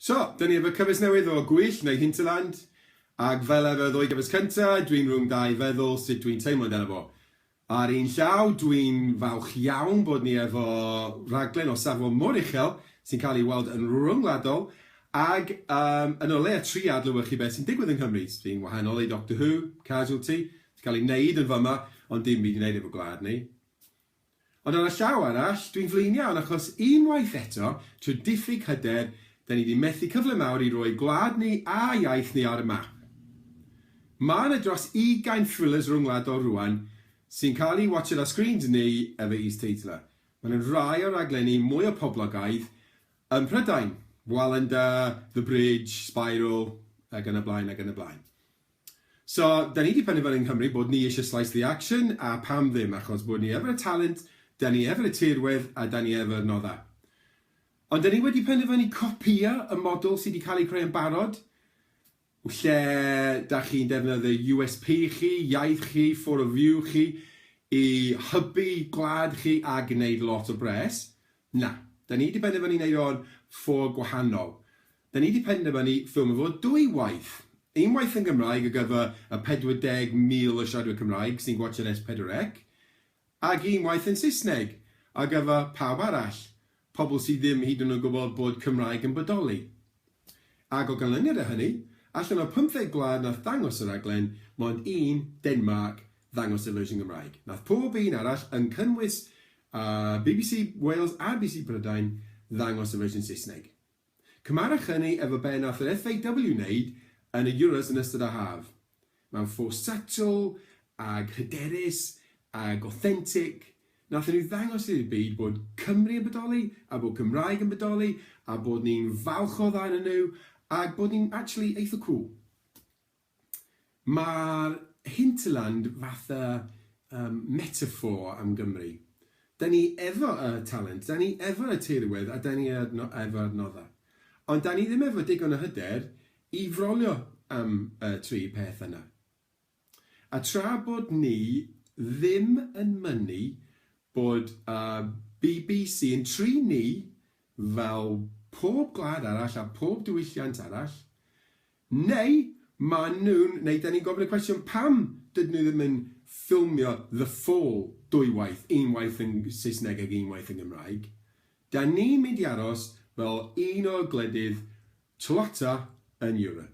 So, dan ni efo cyfres newydd o Gwyll neu Hinterland, ac fel efo y ddwy gyfres cynta, dwi'n rhwng dau feddwl sut dwi'n teimlo amdano fo. Ar un llaw, dwi'n falch iawn bod ni efo rhaglen o safon mor uchel, sy'n cael ei weld yn ryngwladol, ac yym yn o leia tri adlewyrchu beth sy'n digwydd yng Nghymru, sy'n wahanol i Doctor Who, Casualty, sy'n cael ei wneud yn fama, ond dim byd i wneud efo gwlad ni. Ond ar y llaw arall, dwi'n flin iawn achos, unwaith eto, trwy diffyg hyder, 'da ni 'di methu cyfle mawr i roi gwlad ni a iaith ni ar y map. Ma' 'na dros ugain thrillers rhyngwladol rŵan sy'n cael eu watshiad ar screens ni efo is-teitlau. Ma' 'na rai o'r raglenni mwya poblogaidd ym Mhrydain, Wallander, The Bridge, Spiral, ac yn y blaen ac yn y blaen. So, da ni di penderfynu yng Nghymru bod ni eisiau slice the action, a pam ddim, achos bod ni efo'r talent, da ni efo'r tirwedd, a da ni efo'r noddau. Ond da ni wedi penderfynu copïo y model sydd wedi cael ei creu yn barod, lle da chi'n defnyddio USP chi, iaith chi, for of view chi, i hybu gwlad chi a gwneud lot o bres. Na, da ni wedi penderfynu wneud o'n ffo gwahanol. Da ni 'di penderfynu ffilmio fo dwy waith. Unwaith yn Gymraeg ar gyfer y 40,000 o siaradwyr Cymraeg sy'n gwatsiad Es Pedwar Ec, ac unwaith yn Saesneg ar gyfer pawb arall, pobl sydd ddim hyd yn oed yn gwybod bod Cymraeg yn bodoli. Ac o ganlyniad i hynny, allan o 15 gwlad nath ddangos y raglen, mond un, Denmarc, ddangos y fersiwn Gymraeg. Nath pob un arall, yn cynnwys bbc Wales a bbc Prydain, ddangos y fersiwn Saesneg. Cymharech hynny efo be nath yr FAW wneud yn y Euros yn ystod y haf. Mewn ffos setl, ag hyderus, ag authentic, nathon nhw ddangos i'r byd bod Cymru yn bodoli, a bod Cymraeg yn bodoli, a bod ni'n falch o ddau onyn nhw, ag bod ni'n actually eitha cŵl. Mae'r hinterland fatha um, metaphor am Gymru. Da ni efo y talent, da ni efo y teirywedd a da ni efo adnoddau. Ond da ni ddim efo digon o hyder i frolio am y tri peth yna. A tra bod ni ddim yn mynnu bod y bbc yn tri ni fel pob gwlad arall a pob diwylliant arall, Neu maen nhw'n, neu dan ni'n gofyn y cwestiwn pam dydyn nhw ddim yn ffilmio The Fall dwy waith, un waith yn Saesneg ac un waith yn Gymraeg. Dan ni'n mynd i aros fel un o gwledydd twata yn Europe.